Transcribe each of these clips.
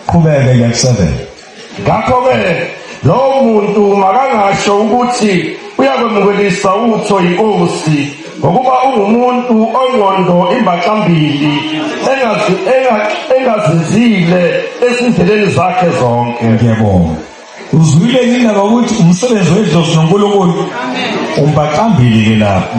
Qhubeke ke 7. Ngakho ke lowo muntu makangasho ukuthi uyakwemukelisa utho inkosi ngokuba ungumuntu ongqondo imbaxambili engazinzile ezindleleni zakhe zonke. Ngiyabonga. Uzwile yini indaba ukuthi umsebenzi wedlozi noNkulunkulu umbaqambili ke lapho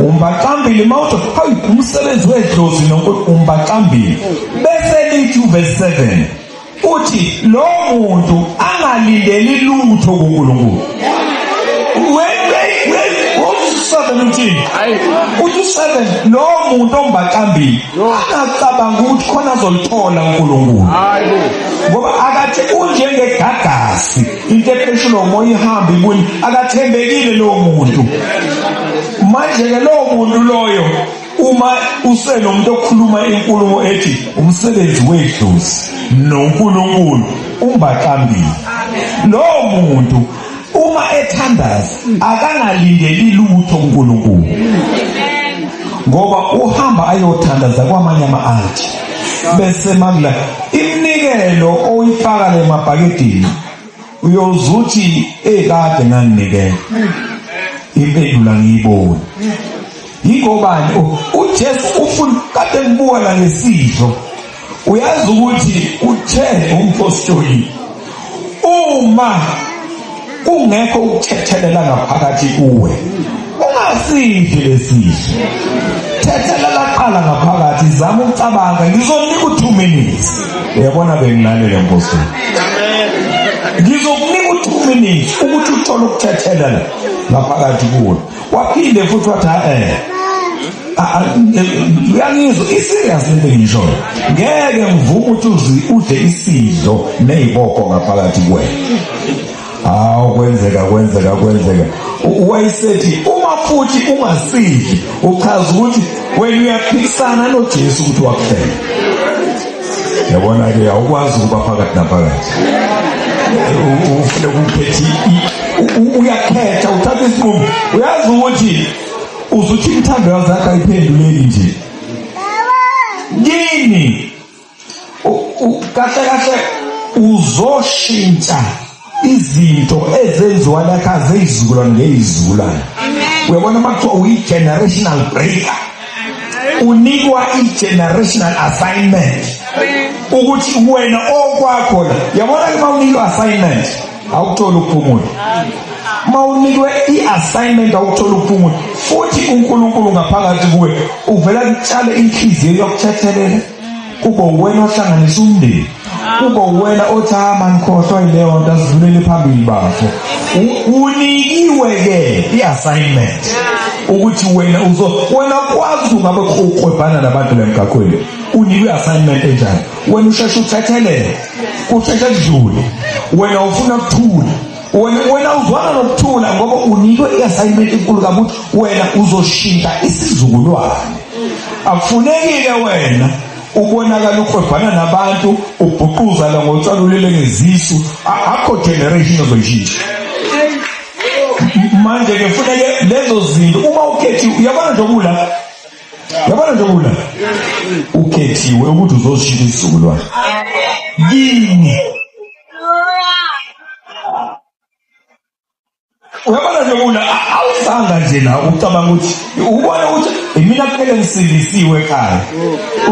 umbaqambili mawuthi hayi umsebenzi wedlozi noNkulunkulu umbaqambili bese lithi verse 7 uthi lo muntu angalindeli lutho kuNkulunkulu uthini uthi useven lo muntu ombaqambile angacabanga ukuthi khona azolithola uNkulunkulu ngoba akathi unjengegagasi into epheshula umoya ihamba ibuye akathembekile lowo muntu manje-ke lowo muntu loyo uma usenomuntu okhuluma inkulumo ethi umsebenzi wedlozi nonkulunkulu umbaqambile lowo muntu uma ethandaza akangalindeli lutho kuNkulunkulu ngoba uhamba ayothandaza kwamanye ama-alti bese makula iminikelo oyifaka le mabhakedini uyoze uthi ekade nganginikela impendulo angiyiboni yingobani ujesu ufuna kade ngibuka la ngesidlo uyazi ukuthi uthe umpostoli uma kungekho ukuthethelela ngaphakathi kuwe ungasidli lesiso thethelela qala ngaphakathi zama ukucabanga ngizokunika u-two minutes uyabona bengilalele mpostoli ngizokunika u-two minutes ukuthi uthole ukuthethelela ngaphakathi kuwe waphinde futhi wathi eh uyangizwa iserious lento engishoyo ngeke ngivume ukuthi uzi udle isidlo neziboko ngaphakathi kuwe hawu kwenzeka kwenzeka kwenzeka wayesethi uma futhi ungasidli uchaza ukuthi wena uyaphikisana noJesu ukuthi wakufela yabona-ke awukwazi ukuba phakathi naphakathi ufune ukuphethi uyakhetha uthatha isinqumo uyazi ukuthi uzuthi imithando yazakho ayiphenduleki nje kini kahle kahle uzoshintsha izinto ezenziwa lakha zeyizukulwane ngeyizukulwane uyabona uma kuthiwa uyi-generational breaker unikwa i-generational assignment ukuthi wena okwakho la yabona ke uma unikwa assignment awukutholi ukuphumula uma unikwe i-assignment awukutholi ukuphumula futhi unkulunkulu ngaphakathi kuwe uvela kutshale inhliziyo yokuthethelela kube uwena ohlanganisa umndeni kube uwena othi hama nikhohlwa yileyo nto azivulele phambili bafo unikiwe-ke i-assignment ukuthi wena uzo wena kwazi ungabe uqwebhana nabantu lemgaqweni unikwe assignment enjani wena usheshe uthethelele kusheshe kudlule wena ufuna kuthula wena uzwana nokuthula ngoba unikwe i-assignment enkulu kabuthi wena uzoshintsha isizukulwane akufunekile wena ubonakala ukhwebhana nabantu ubhuquzala ngotshalulele ngezisu akho generation ozoyishintsha manje ke funeke lezo zinto uma ukhethiwe uyabona nje okula yabona nje okula ukhethiwe ukuthi uzoshintsha isizukulwane yini uyabona nje una awusanga nje la ucabanga ukuthi ubona ukuthi imina kuphele ngisindisiwe ekhaya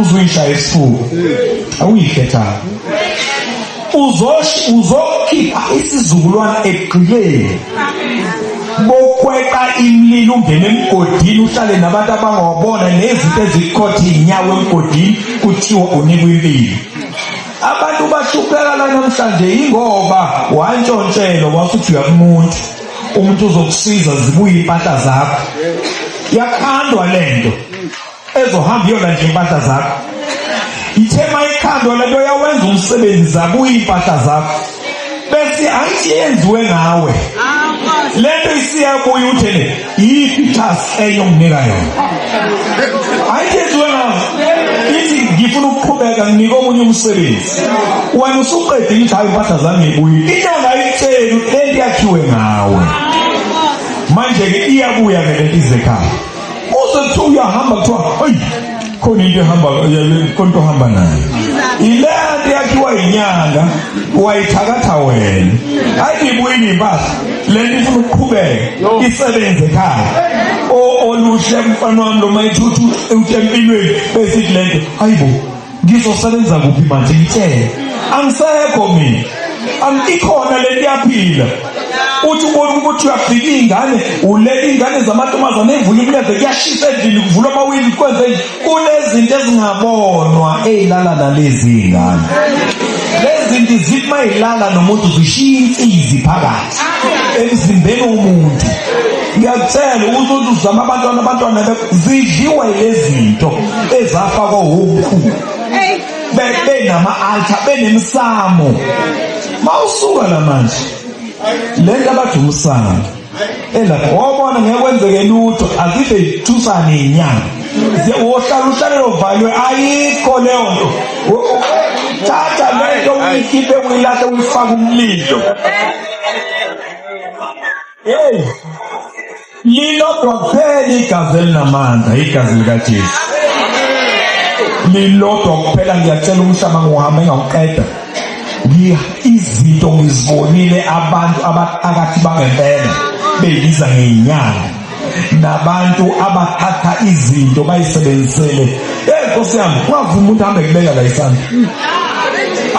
uzuyishaya isifuba awuyikhethanga uzokhipha isizukulwane ekugqileni bokweqa imlilo ungene emgodini uhlale nabantu abangawabona nezinto ezikhothi inyawo emgodini kuthiwa unikwa impilo Abantu bashupheka la namhlanje yingoba wantshontshelwa wasuthi uyakumuntu umuntu uzokusiza zibuye impahla zakho yakhandwa lento ezohamba iyona nje impahla zakho ithe mayikhandwa lento yawenza umsebenzi zabuye impahla zakho bese hayi yenziwe ngawe lento isiyabuya uthele yiphi task eyonginika yona hayi yenziwe ngawe ithi ngifuna ukuqhubeka nginike omunye umsebenzi wena usuqedile ukuthi hayi impahla zami ngibuye inyanga ayitsheli ukuthi lento yakhiwe ngawe manje-ke iyabuya-ke lento izekhaya Uze kuthiwa uyahamba kuthiwa hayi khona into ehamba konto ohamba nayo ilento yakhiwa yinyanga wayithakatha wena hayi ngibuyile impahla lento ifuna ukuqhubeka isebenze ekhaya oluhle mfana wami lo mayithuthu utempilweni besithi lento hayibo ngizosebenza kuphi manje ngitshele angisekho mina angikhona le ntiyaphila uthi ubona ukuthi uyafika iy'ngane ulela iy'ngane zamantombazane evula imleve kuyashisa endlini kuvula amawindi kwenze nje kunezinto ezingabonwa ey'lala nalezi y'ngane lezi zinto zithi uma y'lala nomuntu zishiya insizi phakathi emzimbeni womuntu ngiyakutshela ukuthi uthi uzama abantwana abantwana zidliwe lezinto ezafakwa womkhulu benama-alta benemisamo mawusuka la manje le nto abathi umsamo elapho wabona ngeke kwenzeke lutho akide ithusane inyanga wohlala uhlale lovalwe ayikho leyo nto thatha lento uyikhiphe uyilahle uyifake umlilo hey lilodwa kuphela igazi elinamandla igazi likajesu lilodwa kuphela ngiyacela umhlaba ngiwuhamba engawuqeda izinto ngizibonile abantu abaqakathi bangempela beyibiza ngenyanga nabantu abathatha izinto bayisebenzisele hey nkosi yami kwavuma umuntu hambe kubeka la isandla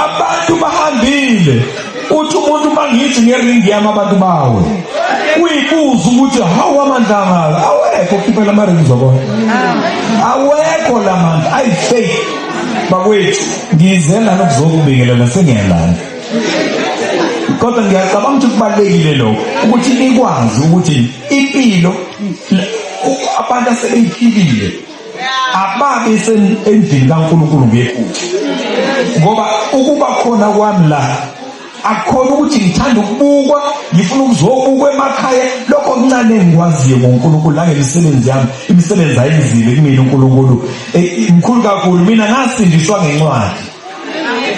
abantu bahambile uthi umuntu uma ngithi ngeringi yami abantu bawe uyibuza ukuthi hawu amandla angaka awekho khiphe la maringi zobona awekho la mandla ayi faith bakwethu ngize lana kuzokubingelela sengiyalandla kodwa ngiyacabanga ukuthi kubalulekile lokho ukuthi nikwazi ukuthi impilo abantu asebeyiphilile ababe endlini kaNkulunkulu ngephutha ngoba ukuba khona kwami la akukhona ukuthi ngithanda ukubukwa ngifuna ukuzobukwa emakhaya lokho kuncane engikwaziyo ngoNkulunkulu nangemisebenzi yami imisebenzi ayenzile kumina uNkulunkulu eh, mkhulu kakhulu mina ngasindiswa ngencwadi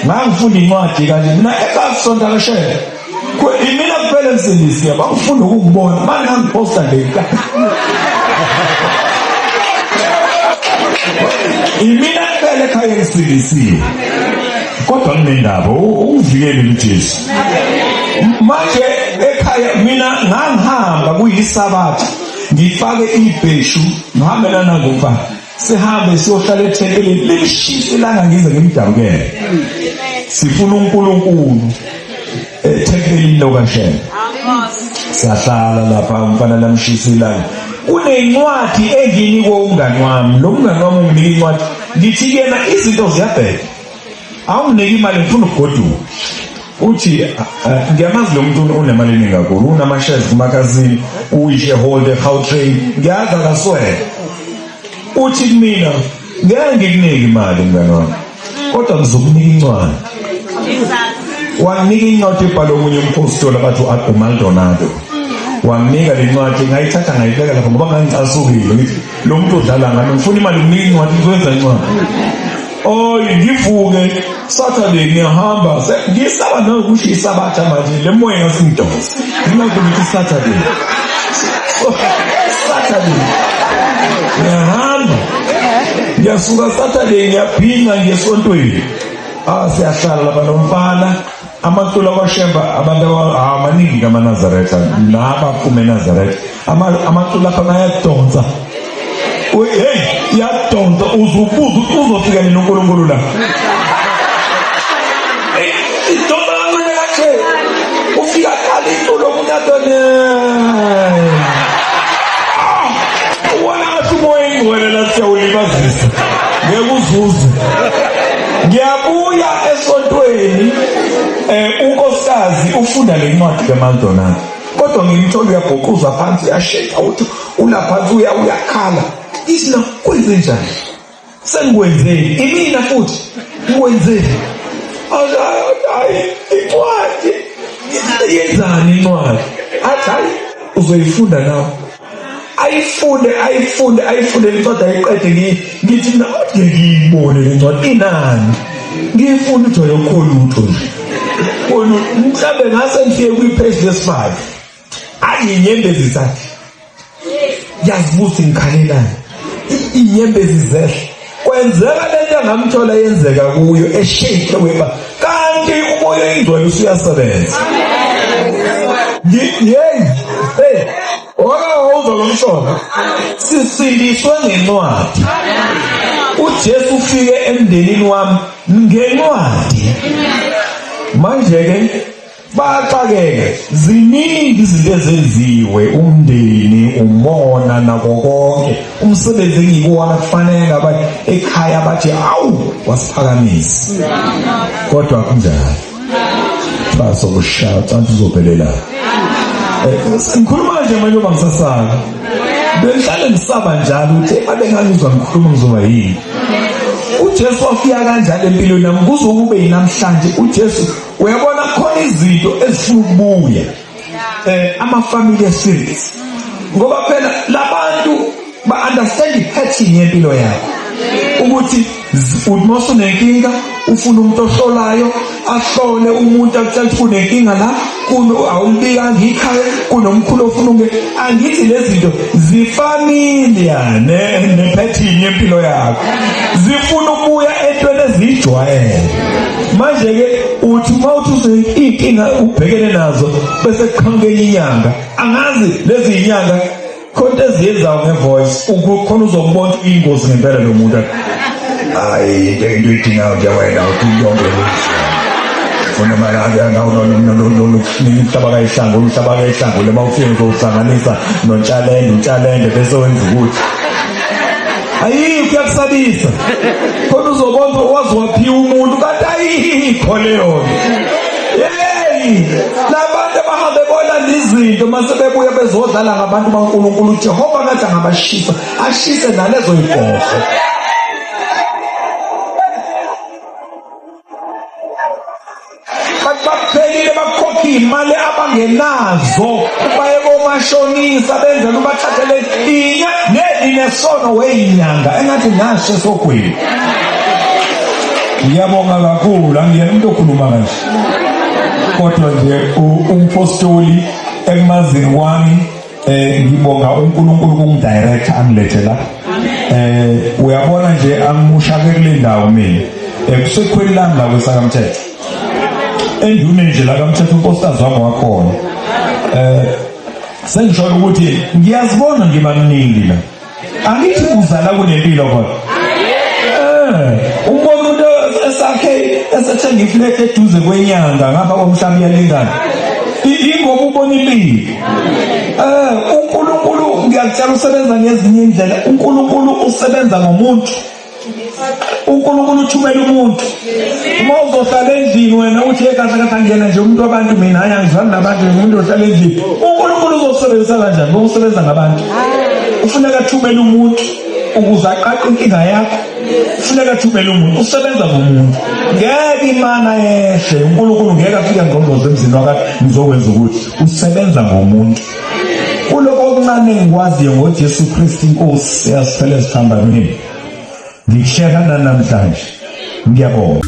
ngangifunda incwadi kanje mina ekasonto akashele imina kuphela emsindisi yaba ufunda ukungibona manje ngangiphosta nje imina kuphela ekhaya emsindisiwe kodwa kunendaba uvikele uJesu manje ekhaya mina ngangihamba kuyisabatha ngifake ibheshu ngihambe nanangokuba sihambe siyohlala ethempelini lishisa ilanga ngize ngimdabukele sifuna uNkulunkulu ethempelini lokashela sahlala lapha umfana lamshisa ilanga kunencwadi enginikwe umngani wami lo mngani wami unginika incwadi ngithi yena izinto ziyabheka awunike imali ngifuna ukugoduka uthi eh, eh, ngiyamazi lo muntu unemali eningi kakhulu unamashares kumakazini uyi-shareholder gautrain ngiyazi akaswele uthi kumina ngeke ngikunike imali mngane wami kodwa ngizokunika incwadi wanginika incwadi ebhalwe omunye umphostoli abathi u-agumaldonado wanginika le ncwadi ngayithatha ngayibeka lapho ngoba ngangicasukile ngithi lo muntu odlala ngami ngifuna imali kuningi wathi ngizokwenza incwadi oy ngivuke saturday ngiyahamba ngisaba nokusho isabatha manje le moya ngasingidosa nginakuthi saturday saturday ngiyahamba ngiyasuka saturday ngiyaphinga ngesontweni ah siyahlala laba nomfana amaculo akwashemba abantu amaningi kamanazaretha laba phuma enazaretha amaculo akho ayadonsa hey yadonsa uzubuza ukuthi uzofika nini unkulunkulu la idonsa kancane kahle ufika khala iculo umuntu adone ah, uwona ngathi umoya ingcwele la siyawulibazisa ngeke uzuze ngiyabuya esontweni um unkosikazi ufunda le ncwadi kamaldonana kodwa ngimthola uyabhuquza phansi uyasheka uthi ula phansi uya uyakhala ithi na kwenze njani sengikwenzeni imina futhi ngikwenzeni hayi incwadi yenzani incwadi athi hayi uzoyifunda nawe ayifunde ayifunde ayifunde incwadi ayiqede ngithi mina kodwa ngiyibone le ncwadi inani ngiyifuna ukuthi ayokho lutho nje kona mhlawumbe ngase ngifike kwi-page lesifive ayi inyembezi zakhe yazibusa ngikhalelani inyembezi zehle kwenzeka lento engamthola yenzeka kuyo eshake weba kanti umoya oyingcwele usuyasebenza yeyi hey owake wawuzwa lo mshona sisindiswe ngencwadi ujesu ufike emndenini wami ngencwadi manje-ke Baxakeke ziningi izinto ezenziwe umndeni umona nako konke umsebenzi engikuwona kufanele ngaba ekhaya bathi awu wasiphakamisa kodwa kunjalo baso kushaya cansi uzophelela eh, ngikhuluma nje manje uma ngisasaka bengihlale ngisaba njalo ukuthi abengangizwa ngikhuluma ngizoba yini uJesu wafika kanjalo empilweni nami kuze kube yinamhlanje uJesu uyabona khona izinto ezifuna ukubuya eh ama-family series ngoba phela labantu ba-understand i-pattern yempilo yakho ukuthi umosa unenkinga ufuna umuntu ohlolayo ahlole umuntu akutshela ukuthi unenkinga la kuno awulibikanga ikhaya kunomkhulu ofuna unge angithi lezi zinto zifamilia nephethini yempilo yakho zifuna ukuya entweni eziyijwayele manje ke uthi uma uthi uzoyinkinga ubhekene nazo bese kuqhamuke inyanga angazi lezi inyanga khona eziyenzayo ngevoice ukhona uzombona ingozi ngempela lo muntu hayi into into idingayo nje wena uthi yonke funa malaki angawunolomhlaba kayihlanga umhlaba kayihlanga lema ufike uzowuhlanganisa nontshalende untshalende bese wenza ukuthi ayi kuyakusabisa kodwa uzobonza wazi waphiwa umuntu kanti ayikho leyo yeyi labantu abahambe bona izinto mase bebuya bezodlala ngabantu bankulunkulu ujehova ngathi angabashisa ashise nalezo yibhoho Bathi bakuphelile bakukhokha iy'mali abangenazo baye komashonisa benzela ubathathele inya nelinesono weyinyanga engathi ngasho esogwini ngiyabonga kakhulu angiyena umuntu okhuluma kanje kodwa nje umpostoli ekumazikwami Eh ngibonga uNkulunkulu kungidirector angilethe la. Eh uyabona nje angimusha ke kule ndawo mina. Ekusekhweni eh, lami la kwesakamthetho. Endune nje la kamthetho unkosikazi wami wakhona. Eh sengisho ukuthi ngiyazibona ngibamningi la. angithi uzala kunempilo kodwa eh, umbona umuntu esakhe esethenga iflete eduze kwenyanga ngapha komhlaba iyalingana ingoba ubona impilo eh uNkulunkulu ngiyakutshela usebenza ngezinye indlela uNkulunkulu usebenza ngomuntu uNkulunkulu uthumela umuntu uma uzohlala endlini wena uthi ekahle kahle angena nje umuntu wabantu mina hayi angizwani nabantu ngimuntu ohlala endlini uNkulunkulu uzokusebenzisa kanjani ngokusebenza ngabantu ufuneka athumele umuntu ukuze aqaqe inkinga yakho ufuneka athumele umuntu usebenza ngomuntu ngeke imana yehle uNkulunkulu ngeke afike ngqongqoze emzini wakhe ngizokwenza ukuthi usebenza ngomuntu kuloko okuncane engikwaziyo ngoJesu Kristu inkosi eyasiphela ezihambamini ngikusheka nanamhlanje ngiyabonga